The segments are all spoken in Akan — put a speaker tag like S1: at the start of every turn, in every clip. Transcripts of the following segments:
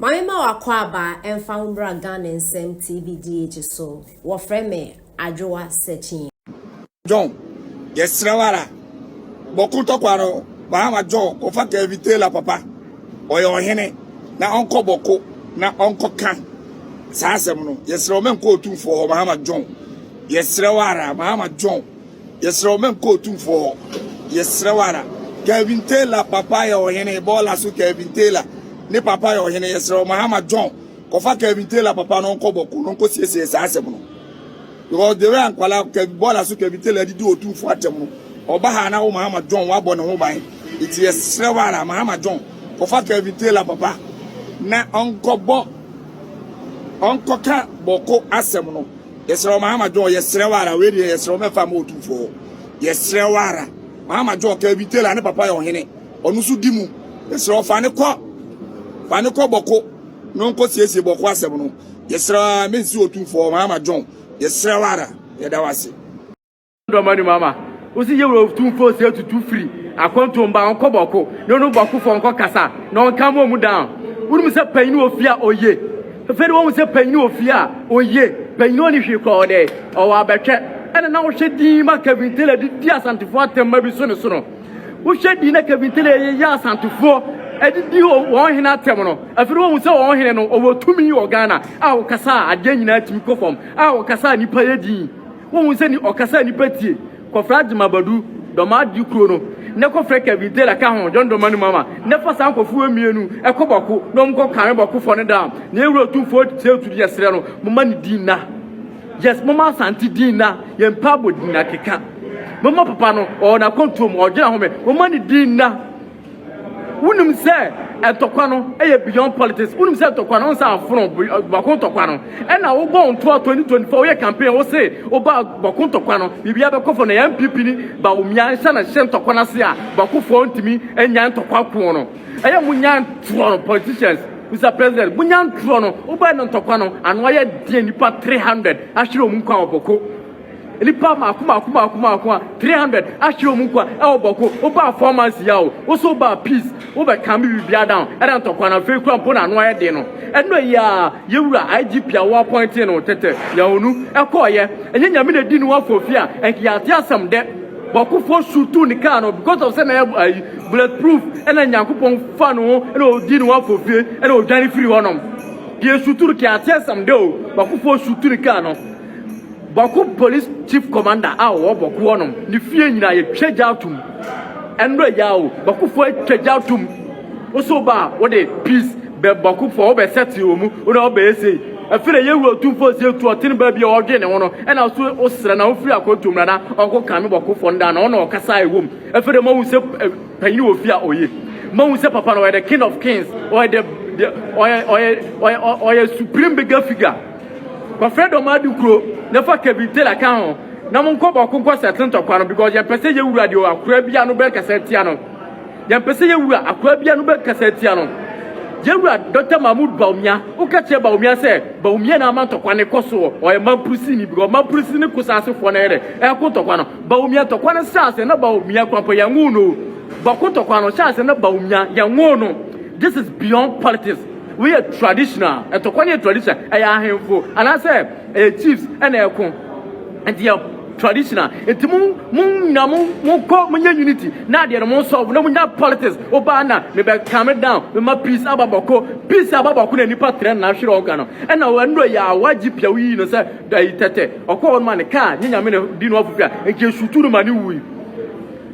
S1: Mame ma w'akwaaba ɛmfa wo mmra Ghana nsɛm TBDH so, wɔfrɛ me Adwoa Sekyee. John,
S2: yɛsrɛ wo ara, bɔ ko tɔkwa no, Bahama John, kɔfa Kevin Taylor papa, ɔyɛ ɔhene, na ɔnkɔ bɔ ko na ɔnkɔka saa asɛm no, yɛsrɛ wo, mɛnkɔ otumfoɔ hɔ, Bahama John, yɛsrɛ wo ara, Bahama John. Yɛsrɛ wo ma nkɔ otumfoɔ hɔ. Yɛsrɛ wo ara. Kelvin Taylor papa yɛ ɔhene, bɔɔla so Kelvin Taylor ne papa yɛ ɔhene. Yɛsrɛ wo Mahama John, kɔfa Kelvin Taylor papa no ɔnkɔ bɔko na ɔnkɔsiesie saa asɛm no. Because the way a nkwadaa Kelvin bɔɔla so Kelvin Taylor didi otumfoɔ atɛm no, ɔba ha na wo Mahama John wabɔ ne ho ban. Nti yɛsrɛ wo ara Mahama John, kɔfa Kelvin Taylor papa na ɔnkɔbɔ ɔnkɔka bɔko asɛm no. Yɛsrɛ wo Mahama John, yɛsrɛ wo ara, wei deɛ yɛsrɛ wo mɛfa ma otumfoɔ hɔ. Yɛsrɛ wo ara. Mahama John kaa bi Taylor ne papa yɛ ɔhene. Ɔno nso di mu. Yɛsrɛ wo fa ne kɔ. Fa ne kɔ bɔko na ɔnkɔ siesie bɔko asɛm no. Yɛsrɛ wo ara mensi otumfoɔ hɔ Mahama John. Yɛsrɛ wo ara. Yɛda wo ase. dɔm
S3: anim ama wosi yɛ wɔ tumfoɔ sɛ tutu firi akwantuo mba ɔnkɔ bɔko na ɔno bɔkofoɔ nkɔ kasa na ɔnka mu ɔmu down wonim sɛ panyin wɔ fie a ɔye fɛfɛ de wɔn sɛ panyin wɔ fie a ɔye panyin ɔne hwee kɔ ɔdɛ ɔwɔ abɛtwɛ ɛna na wohwɛ din ma Kevin Taylor de di asantefoɔ atɛmma bi so ne so no wohwɛ din na Kevin Taylor yɛ yɛ asantefoɔ ɛde di wɔn hene atɛm no afiri wɔn sɛ wɔn hene no ɔwɔ tumi wɔ Ghana a wɔkasa a adeɛ nyinaa tumi kɔ fam a wɔkasa a nipa yɛ din Wohu sɛ ni ɔkasa a nnipa tie, kɔfrɛ Adjma Badu, Dɔmmaade kuro no, na kɔfrɛ Kevin Taylor ka ho, John Dɔmani Mama, na fa saa nkorɔfoɔ mmienu kɔ Bɔko na wɔn nkɔ kame Bɔkofoɔ no down, na Ewura Otumfoɔ Kyerɛ Tutu yɛ srɛ no, momma ne din nna. Yes, momma Asante din nna, yɛn mpaabɔ din akeka. Momma papa no, ɔwɔ n'akwantuo mu, ɔgyina home, momma ne din nna. Wonim sɛ ntɔkwa no yɛ beyond politics, wonim sɛ ntɔkwa no nsa afono bɔko ntɔkwa no, ɛna wobɔ wo ntoa 2024 woyɛ campaign wo se woba bɔko ntɔkwa no biribiara bɛkɔ fam na yɛ NPP ni Bawumia nhyɛ na hyɛ ntɔkwa no ase a bɔkofoɔ ntumi nnya ntɔkwa ko no ɛyɛ monya ntorɔ no politicians Mister President, monya ntorɔ no, wobɛɛ no ntɔkwa no, ano ayɛ deɛ nipa 300 ahwere wɔn nkwa wɔ bɔko. Nnipa mako mako mako mako a 300 ahyɛ wɔn nkwa ɛwɔ bɔko wobaa four months yi awo woso wobaa peace wobɛ kan bi bibia down ɛna ntɔkwa na afei kura mpo na ano ayɛ den no ɛnɔ yi a yɛwura IGP a wo appointing no tɛtɛ yɛhonu ɛkɔɔ yɛ ɛnyɛ nyame na di no wafo fi a ɛnk yɛate asɛm dɛ bɔkofoɔ sutu ne kaa no because of sɛ na ɛyɛ ayi bulletproof ɛna nyankopɔn fa no ho ɛna odi no wafo fie ɛna odwane firi hɔnom deɛ sutu no kɛ ate asɛm dɛ o bɔkofoɔ sutu ne kaa no Bɔko Police Chief Commander a ɔwɔ Bɔko hɔnom ne fie nyinaa yɛtwa gya atom. Ɛnora yi a o, Bɔkofoɔ atwa gya atom. Woso ba a, wode peace bɛ Bɔkofoɔ, wobɛ sɛte wɔ mu, wona wobɛyɛ sei. Ɛfiri na yɛwura otumfoɔ sie tu ɔtene baa bi a ɔdwe ne ho no, ɛna woso wosrɛ na wofiri akɔntom na na ɔnko kame Bɔkofoɔ no daa na ɔna ɔkasa a ɛwɔ mu. Ɛfiri na mohu sɛ panyini wɔ fie a ɔyɛ. Mohu sɛ papa no ɔyɛ the king of kings, ɔyɛ the, the, ɔyɛ, ɔyɛ, ɔyɛ, ɔyɛ supreme bigger figure. Wɔfrɛ dɔm adu kuro na fa cabin tailor ka ho na mo nkɔ bɔko nkɔ settle ntɔkwa no because yɛn pɛ sɛ yɛ wura deɛ akora bia no bɛ kasa tia no yɛn pɛ sɛ yɛ wura akora bia no bɛ kasa tia no yɛ wura Dr. Mahmoud Bawumia wo ka kyerɛ Bawumia sɛ Bawumia na ama ntɔkwa ne kɔ so ɔyɛ mampurisi ni because mampurisi ne ko saase foɔ na yɛ dɛ ɛko ntɔkwa no Bawumia ntɔkwa no hyɛ ase na Bawumia kwampɔ yɛn ŋoo no bɔko ntɔkwa no hyɛ ase na Bawumia yɛn ŋoo no this is beyond politics Wei yɛ traditional, ɛtɔkwa ne yɛ traditional, ɛyɛ ahemfo anaasɛ ɛyɛ chiefs ɛna ɛko, ɛnti yɛ traditional, ɛnti mo mo nyina mo mo kɔ mo nyɛ unity, na adeɛ no mo solve, na mo nyina politics, obaa na me bɛ calm down, me ma peace aba bɔko, peace aba bɔko na nipa trɛ na ahwere ɔga no, ɛna ɛno ɛyɛ awa gye pia woyi no sɛ ɛyi tɛtɛ, ɔkɔ hɔ no ma ne kaa, nye nyame ne di no afofia, nka esutu no ma ne wui.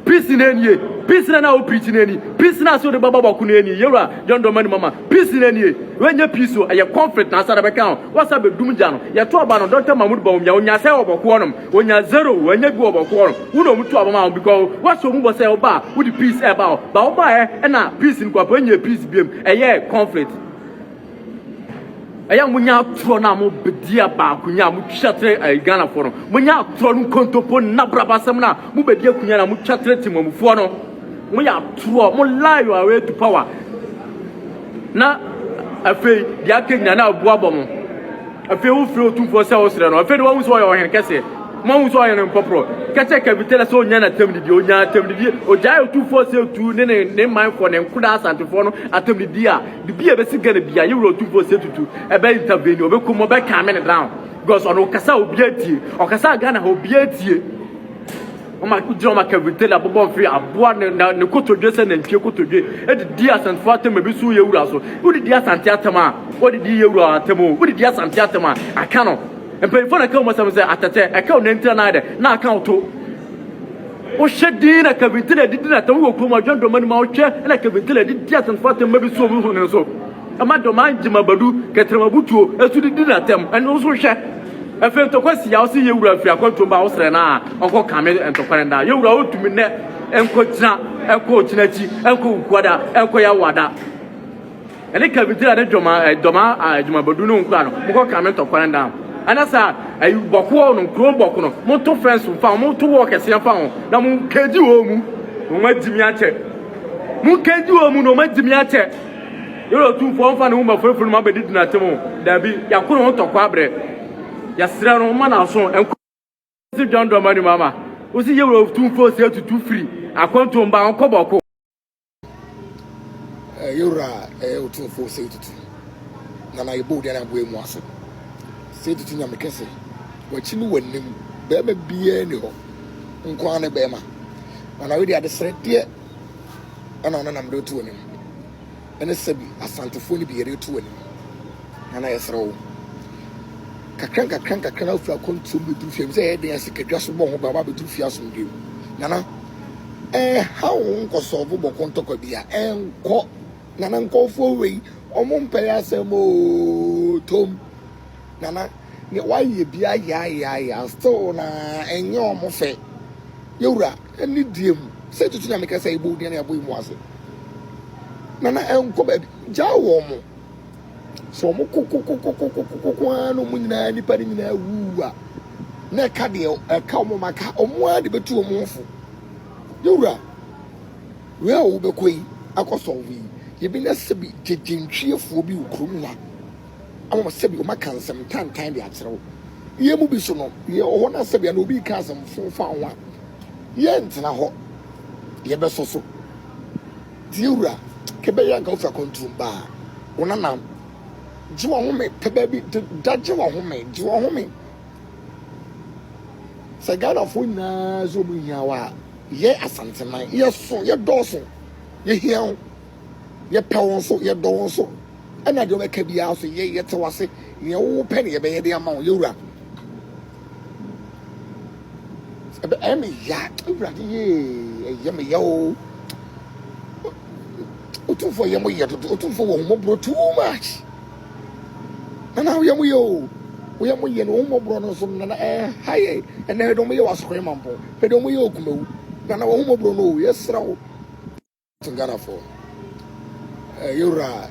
S3: Peace na nie, peace na na wo preach na ni, peace na so de baba bako na ni, yewura John Domani mama, peace na nie, we nye peace o, ɛyɛ conflict na asa na bɛka ho, wasa bɛ dum gya no, yɛ to aba no Doctor Mahmood Bawumia, onya sɛ wɔ bɔko hɔ nom, onya zero, wɔ nya bi wɔ bɔko hɔ nom, wo na ɔmu to aba ma ho, because wasa ɔmu bɔ sɛ ɔba a, wo de peace ɛba hɔ, ba wo ba ɛ, ɛna peace no kɔ apa, nye peace biem, ɛyɛ conflict. Ɛyɛ a monya atorɔ no a mobɛdi a baakonya a motwa kyerɛ eh, Ghanafoɔ no. Monya atorɔ no nkontompo nna brabasɛm no a mobɛdi akonya no a motwa kyerɛ temamufoɔ no. Moyɛ atorɔ, mo lie your way to power. Na afei deɛ aka nyina na abu abɔ mo. Afei wofiri otumfoɔ sɛ wosrɛ no. Afei de wahu sɛ ɔyɛ ɔhene kɛseɛ. Moahu sɛ ɔyɛ no nkɔporɔ. Kɛkyɛ kavitela sɛ ɔnya no atamdidie, ɔnya atamdidie. Ɔgyae otumfoɔ sɛ tu ne ne ne manfoɔ, ne nkodaa asantefoɔ no atamdidie a Biribi a ɛbɛsi Ghana biara, yɛn wura Otumfoɔ Osei Tutu ɛbɛ intervene, ɔbɛkɔ mu, ɔbɛ calm it down because ɔno ɔkasa a obiara tie, ɔkasa a Ghana ha obiara tie. Ɔma gyina ɔma Kevin Taylor abobɔ mfe aboa ne na ne kotodwe sɛ nantwie kotodwe edidi asantefo atam ebi so yɛ wura so. Wodidi asante atam a, wodidi yɛ wura atam o, wodidi asante atam a, aka no. Mpanyinfo na ɛka wɔn asɛm sɛ atɛtɛ, ɛka wo nantira na ayɛ dɛ, na aka wo to. Wohyɛ din na Kevin Taylor de di n'atɛm wɔ kurom adwene dɔm anim a wohwɛ na Kevin Taylor de di asɛmfua atɛm ma bi so obi hone so. Ɛma dɔm a Ngyema Badu, Kɛtrɛm Abutuo nso de di n'atɛm. Ɛno nso wohwɛ. Afei ntɔkwa si a wose Yewura mfiri akwantuo mba a wosrɛ no a ɔnkɔ kame ntɔkwa no nda. Yewura wontumi nnɛ nkɔ gyina, nkɔ ɔkyena akyi, nkɔ Wukuada, nkɔ Yawada. Ɛne ka bi gyina ne dwoma eh, dwoma ah, eh, dwoma badu no nkura no mokɔ kan me tɔkwan dan ɛna sa eh, ayi bɔkoɔ no nkuro bɔko no moto fɛnso mfa ho moto wɔ kɛseɛ mfa ho na mo kegye wɔ mu na wɔn agyimi akyɛ mo kegye wɔ mu na wɔn agyimi akyɛ yɛrɛ otumfoɔ mfa ne ho ma furafuru no ma bɛdi dina tem ho daabi yɛako ne ho tɔkɔ abrɛ yɛserɛ no ma n'aso nkɔ si dwandɔma ni mama wosi yɛwura otumfoɔ si atutu firi akɔntomba nkɔ bɔko
S2: ɛyɛ wura a ɛyɛ otumfoɔ sɛ tutu na na yɛbɔ odian aboa mu ase sɛ tutu nyame kɛse wakyi ne w'anim bɛrima biara ni hɔ nkoa ne bɛrima na na wede adesrɛdeɛ ɛna ɔno nam de to w'anim ɛne sɛbi asantefoɔ no bi yɛde to w'anim na na yɛsrɛ wo kakra nkakra nkakra na wofiri akɔntuom bɛduru fie sɛ ɛyɛ den ase kadwa so bɔ ho ba wabɛduru fie asomdwem nana ɛnhaw wo nkɔsɔɔfo bɔkɔ ntɔkwa bia ɛnkɔ nana nkɔfoɔ wei ɔmo mpɛyɛ asɛm oo tom nana ne wayɛ bi ayaayaaya still na ɛnyɛ ɔmo fɛ yɛwura ɛne die mu sɛ tutu nyame kɛsɛ ɛbɔ odin ne ɛbɔ emu ase nana ɛnkɔ baabi gyaa wɔ ɔmo Sɛ wɔn kokokokokokokoko ara na wɔn nyinaa nipa no nyinaa wuu a, na ɛka deɛ ɛka wɔn ma ka wɔn ara de bɛtu wɔn ho fo. Yɛwura, wei a wobɛkɔ yi akɔ sɔnfo yi, yɛbɛnya sɛbi gyegyentwiefoɔ bi wɔ kurom ha ama sɛbi wɔn aka nsɛm tantan de akyerɛ wo. Yɛn mu bi so no, yɛwɔ hɔ na sɛbi ana obi ka asɛm fo fa ho a, yɛntena hɔ, yɛbɛsɔ so. Tie wura, ke bɛyɛ nka wofi akwantuom ba a, wo nanam gye w'ahome pɛ baabi de da gye w'ahome, gye w'ahome. Sɛ Ghanafoɔ nyinaa sɛ wɔn hia wo a, yɛ Asanteman, yɛso, yɛdɔɔso, yɛhia wo, yɛpɛ wo nso, yɛdɔ wo nso, ɛna deɛ wɔbɛka biara nso yɛ, yɛte wo ase, nea wopɛ na yɛbɛyɛ de ama wo, yɛwura. Ɛbɛ ɛyɛ me ya awurade yee ɛyɛ me ya o. Otumfoɔ yɛ mo yɛ dodo otumfoɔ wɔ homɔborɔ too much. Nana woyɛ mo yɛ o. Woyɛ mo yɛ no homɔborɔ no nso nana ɛha yɛ ɛnɛ ɛdɔm yɛ wasokɔe mampɔ ɛdɔm yɛ okumawu nana wɔ homɔborɔ no o yɛsrɛ wo. Ghanafoɔ ɛyɛ wura.